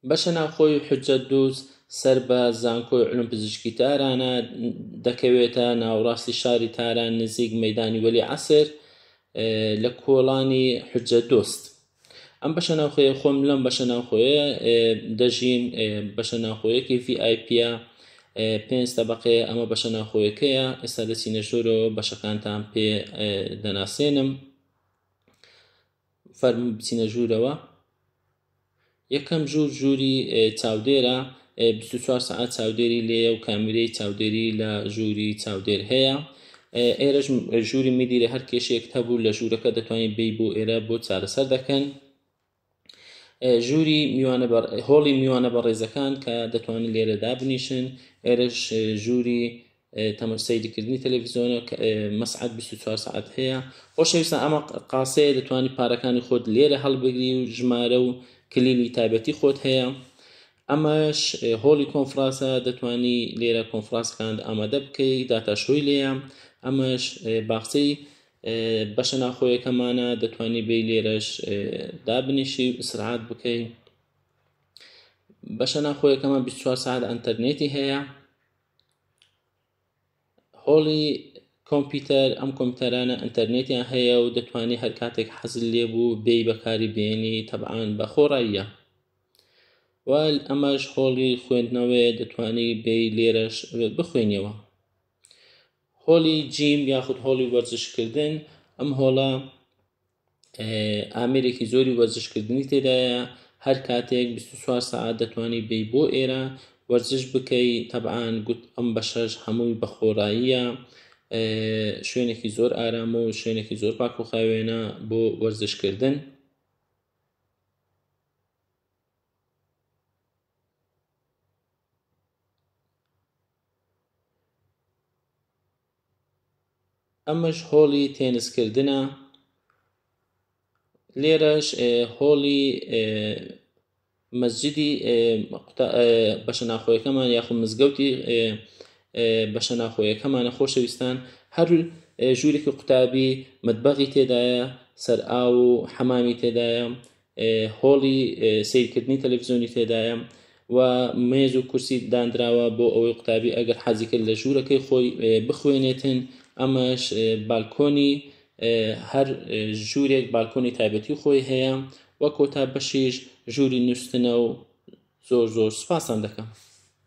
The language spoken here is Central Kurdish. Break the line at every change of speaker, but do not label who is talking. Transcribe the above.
بەشە ناوخۆی حجەت دووز سەر بە زانکۆی علوم پزیشکی تارانە دەکەوێتە ناوڕاستی شاری تاران نزیک مەدانی وەلی عسر لە کۆڵانی حجە دۆست ئەم بەشە ناوخۆیە خۆم لەم بەشە ناوخۆیە دەژین بەشە ناوخۆیەکی VIP پێنج تەبقەیە ئەمە بەشە ناوخۆیەکەیە ئێستا دەچینە ژۆرەوە بەشەکانتان پێ دەناسێنم فەرموو بچینە ژوورەوە. یەکەم ژوور ژووری چاودێرە، بیست و چوار سەعات چاودێری لێیە و کامیرەی چاودێری لە ژووری چاودێر هەیە. ئێرەش ژووری میدیرە هەر کێشەیەکت هەبوو لە ژوورەکە دەتوانیت بێی بۆ ئێرە بۆ چارەسەر دەکەن. ژووری میوانە هۆڵی میوانە بەڕێزەکان کە دەتوانن لێرە دابنیشن، ئێرەش ژووری تەمەش سەیرکردنی تەلەڤیزیۆنە مەسعات 24 سعات هەیە خۆشەویستان ئەمە قاسەیە دەتوانی پارەکانی خۆت لێرە هەڵبگری و ژمارە و کلیلی تایبەتی خۆت هەیە ئەمەش هۆڵی کۆنفراسە دەتوانی لێرە کۆنفراسکان ئامادە بکەی داتا شوی لێە ئەمەش باخچەی بەشە ناخۆیەکەمانە دەتوانی بێ لێرەش دابنیشی و ئیسرعات بکەی بەشە ناخۆیەکەمان 24 ساعت ئەتەرنێتی هەیە هۆڵی کۆمپیوتەر ئەم کۆمپیوتەرانە ئەتەرنێتیان هەیە و دەتوانانی هەر کاتێک حەزل لێبوو بێی بەکاری بێنی تەبعاان بە خۆڕاییە وال ئەمەش هۆڵی خوێندنەوەی دەتوانی بێی لێرەش بخوێنیەوە هۆلی جیم یاخود هۆڵی وەرزشکردن ئەم هۆڵە ئامێرێکی زۆری وەرزشکردنی تێدایە هەر کاتێک 24 سعات دەتوانی بی بۆ ئێرە وەرزش بکەی تەبعاان گوت ئەم بەشەش هەمووی بەخۆراییە شوێنێکی زۆر ئارام و شوێنێکی زۆر پاک و خاوێنە بۆ وەرزشکردن ئەمەش هۆڵی تێنس کردنە لێرەش هۆڵی مەسجدی بەشە ناخۆیەکەمان یاخود مزگەوتی بەشە ناخۆیەکەمانە خۆشەویستان هەر ژوورێکی قوتابی مەدبەغی تێدایە سەر ئاو و حەمامی تێدایە هۆڵی سەیرکردنی تەلەڤزیۆنی تێدایە و مێز و کورسی دانراوە بۆ ئەوەی قوتابی ئەگەر حەزی کرد لە ژوورەکەی خۆی بخوێنێتن ئەمەش بالکۆنی هەر ژوورێک بالکۆنی تایبەتی خۆی هەیە وە کۆتا بەشیش ژووری نووسنە و زۆر زۆر سپاسان دەکەم.